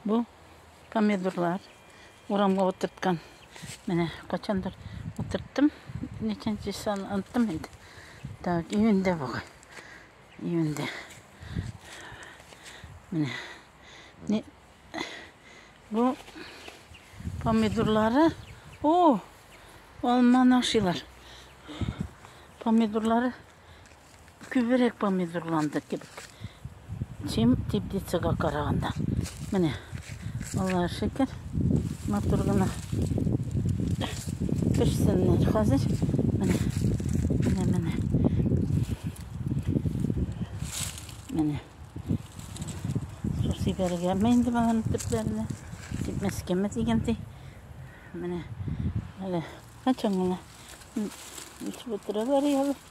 Бу помидорлар урамга утырткан. Менә качандыр утырттым. Ничәнче сан онттым инде. Так, июньдә бугай. Июньдә. Менә. Не... Бу помидорлары. О! Алманы ашыйлар. Помидорлары Күбрәк помидорланды кебек. Чем теплицага караганда. Менә. Аллаһ шөкер. Матур гына. Пешсеннәр хәзер. Менә. Менә, менә. Менә. Су сибәргәме инде баланы төпләренә. Кипмәскәме дигәндәй. Менә. Әле. Качан гына. Үсеп утыра барыялар.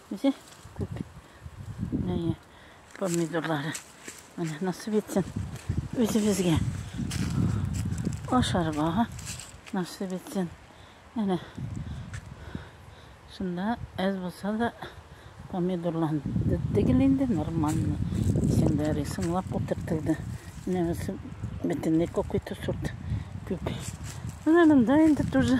Менә күп. Менә помидорлары. Менә насып етсен үзебезгә. Ашарга насып етсен. Әнә шунда әз булса да помидорланды түгел инде нормально. Исемдәре сыңлап утыртылды. Менә монысы бөтенләй какой-то сорт күк. Менә монда инде тоже.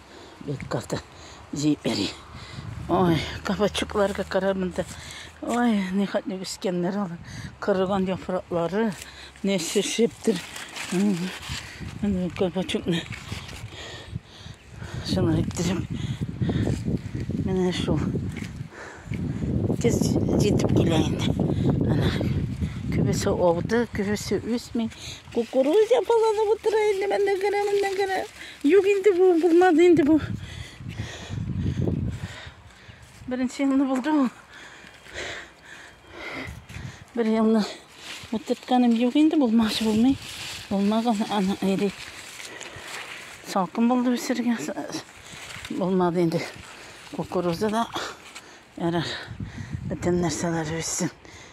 Бик каты җиппери. Ой, кабачукларга кара монда. Ой, ни хәтле үскәннәр алар. Кырыган яфраклары не шешептер. Менә кабачукны. Шуны әйттереп. Менә шул. Тез җитеп килә инде. Ана. Күбесе ауды, күбесе үсми. Кукуруза баланы утыра инде, менә генә, менә генә. Юк инде бу, булмады инде бу. Беренче елны булды ул. Бер елны утыртканым юк инде, булмашы булмый. Булмаган аны эри. Салкын булды үсергә. Булмады инде. Кукуруза да ярар. Бөтен нәрсәләр үссен.